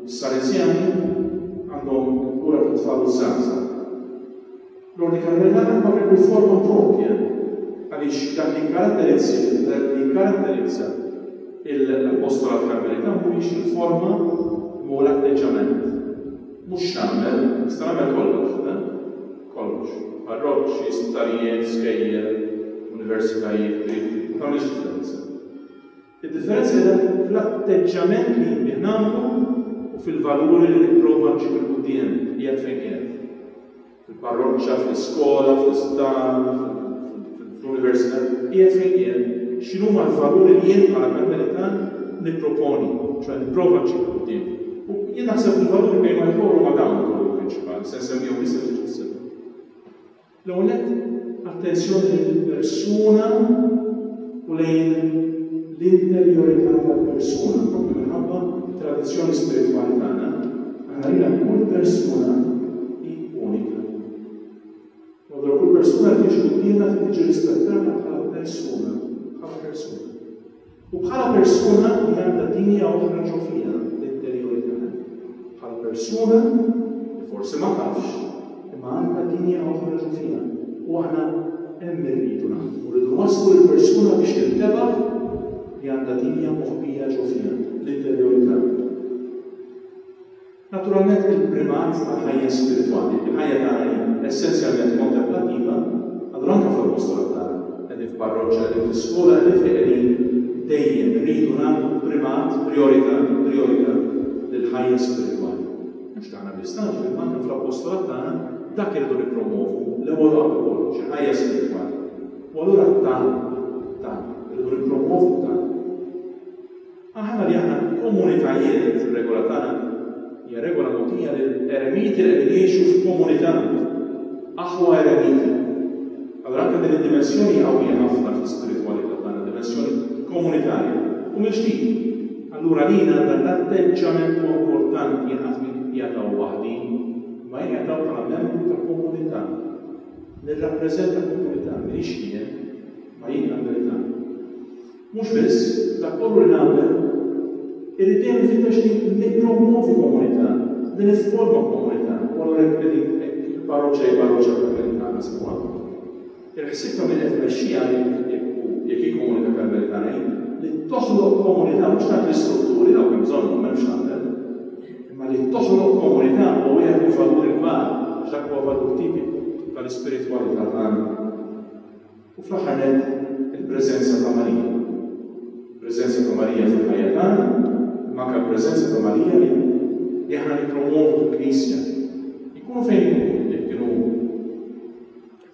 Is-Salesjani għandhom il-kura tat-tfal u ż-żgħażagħ. L-Ordni Karmelitana huma kelbu forma proprja għaliex dak li jikkaratterizzi li jikkaratterizza l-Apostolat Karmelitan mhumiex il-forma imma hu l-atteġġament. Mhux x'nagħmel, nista' nagħmel kollox, le? Kollox. Parroċċi, sptarijiet, skejjel, universitajiet, qrib, ma tagħmilx differenza. Id-differenza qiegħda fl-atteġġjament li jien bih nagħmlu u fil-valuri li nipprova nġib 'il quddiem, qiegħed fejn qiegħed. Fil-parroċċa, fl-iskola, fl-isptar, fl-università, qiegħed fejn qiegħed, x'inhuma l-valuri li jien bħala Karmelitan nipproponi, ċoħe nipprova nġib 'il quddiem. U jien naħseb li l-valuri bejn wieħed u ieħor huma dawn il-valuri prinċipali, se nsemmihom issa ftit fis-segwitu. L-ewwel nett, attenzjoni lejn il-persuna u lejn l-interjorità tal-persuna, propju minħabba t-tradizzjoni spiritwali tagħna, aħna rajna li kull persuna hi unika. U allura kull persuna li tiġi quddiemna trid tiġi rispettata bħala persuna, bħala persuna. U bħala persuna li għandha dinja oħra ġo fiha, l-interjuri tagħha. Bħala persuna li forsi ma tafx, imma għandha dinja oħra ġo fiha. U aħna hemm irridu naħdmu, rridu nwasslu lill-persuna biex tintebaħ li għandha dinja moħbija ġo fiha, l-interjuri tagħha. Naturalment, il-primat tal-ħajja spiritwali, il-ħajja tagħna hi essenzjalment kontemplattiva, allura anke fuq il-post tal-altar, qegħdin f'parroċċa, qegħdin fi skola, qegħdin fejn qegħdin, dejjem irridu nagħtu primat, prijorità, prijorità lill-ħajja spiritwali. Mhux tagħna biss, tagħna ġifieri imma anke fl-appostolat tagħna dak irridu nippromwovu l-ewwel u qabel kollox, il-ħajja spiritwali. U allura tagħna, tagħna, irridu nippromwovu tagħna. Aħna li aħna komunitajiet li fir-regola tagħna hija regola mogħtija lil eremiti li qegħdin jgħixu f'komunità, aħwa eremiti. Allura anke din id-dimensjoni hija qawwija ħafna fl-ispiritwalità tagħna, dimensjoni komunitarja. U mill-ġdid, allura lili għandha l-atteġġament huwa importanti jien qatt minn jataw waħdi, imma jien jataw bħala membru ta' komunità. Nirrappreżenta komunità, m'iniex jien, ma jien għandi li tagħmel. Mhux biss, f'dak kollu li nagħmel, irrid dejjem infittex li nippromwovi komunità, li nifforma komunità, u allura jekk qegħdin hekk paroċċa hi paroċċa Karmelitana San Ġwann, il-ħsieb ta' min qed imexxiha hi, jekk hu, jekk hi komunità Karmelitana, hi li toħloq komunità, mhux tant l-istrutturi, dawk hemm bżonnhom, m'hemm x'nagħmel, imma li toħloq komunità huwa wieħed mill-valuri kbar, għax dak huwa valur tipiku tal-ispiritwalità tagħna. U fl-aħħar nett, il-preżenza ta' Marija. Il-preżenza ta' Marija fil-ħajja tagħna, imma anke l-preżenza ta' Marija li li aħna nippromwovu fil-Knisja. Ikunu fejn ikunu, jekk kienu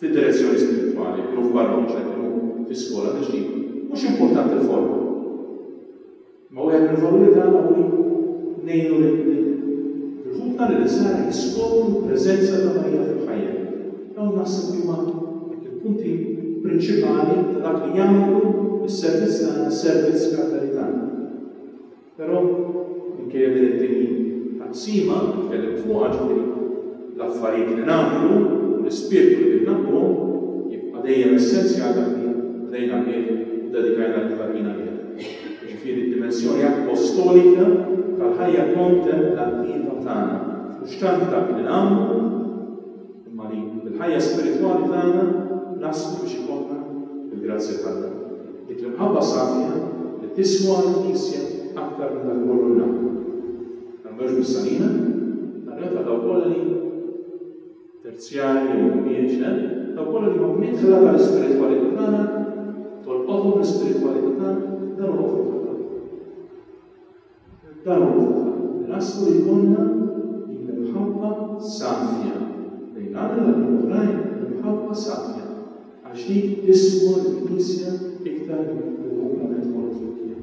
fid-direzzjoni spiritwali, jekk kienu f'parroċċa, jekk kienu fi skola, mhux importanti l-forma. Imma wieħed mill-valuri tagħna hu li ngħinu lil ħutna, lil is-sara jiskopru l-preżenza ta' Marija fil-ħajja. Dawn naħseb li huma dak il-punti prinċipali ta' dak li jagħmlu s-servizz tagħna servizz karmelitani. Però, minkejja din it-tieni taqsima li tkellimt fuqha, ġifieri, L-affarijiet li nagħmlu u l-ispirtu li binnamluhom jibqa' dejjem essenzjal dak li bdejna bih u ddedikajna lil Ħaddin għalih, jiġifieri d-dimensjoni appostolika tal-ħajja kontemplativa tagħna, mhux tant dak li nagħmlu imma li bil-ħajja spiritwali tagħna naslu biex ikollna, bil-grazzja t'Alla, dik l-imħabba safja li tiswa għall-Knisja aktar minn dak kollu li nagħmlu. L-Ambrogio Messaline rrepeta dawk kollha li, terzjarji jew ħwieġ, eh, dawk kollha li huma midħla tal-ispiritwalità tagħna, tolqothom l-ispiritwalità tagħna, dan huwa frutta tagħna. Dan huwa frutta tagħna. Naslu li jkollna din l-imħabba safja lejn Alla li oħrajn l-imħabba safja għax din ismu l-Knisja iktar li huwa minn kollu fil-kien.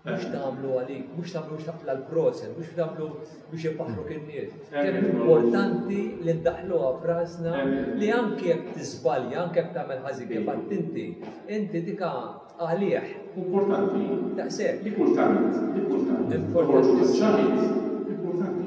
Mhux tagħmlu għalik, mhux tagħmlu biex taqla l-proset, mhux tagħmlu biex ipaħru kien nies. Kemm importanti li ndaħluha frasna li anke jekk tiżbalja, anke jekk tagħmel ħażin kif inti, inti dika għalih. Importanti. Daqshekk. Li kultant, li kultant. Importanti. Importanti.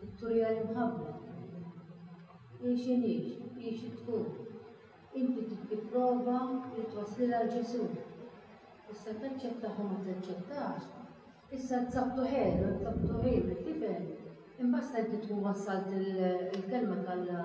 Vittoria l-imħabba hi x'inhi, hi xi tkun. Inti trid tipprova li twasslilha għal Ġesù. Issa taċċettax u ma taċċettax, issa tzabtu ħelu, tzabtu ħelu, tifhem? Imbasta inti tkun wassalt il-kelma t'Alla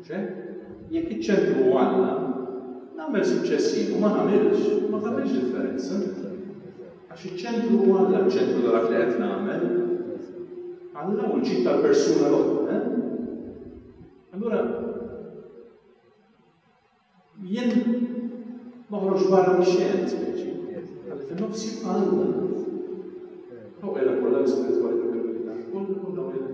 Ċe, jekk iċ-ċentru hu Alla, nagħmel suċċessiv u ma nagħmilx, ma tagħmilx differenza. Għax iċ-ċentru hu Alla, ċ-ċentru ta' dak li qed nagħmel. Alla u l-ġid tal-persuna l-oħra, eh? Allura, jien noħroġ barra mix-xejn, speċi. Għalli fin-nofs jibqa' Alla. Hawn qiegħda kollha l-ispiritwalità kollha kollha qiegħda.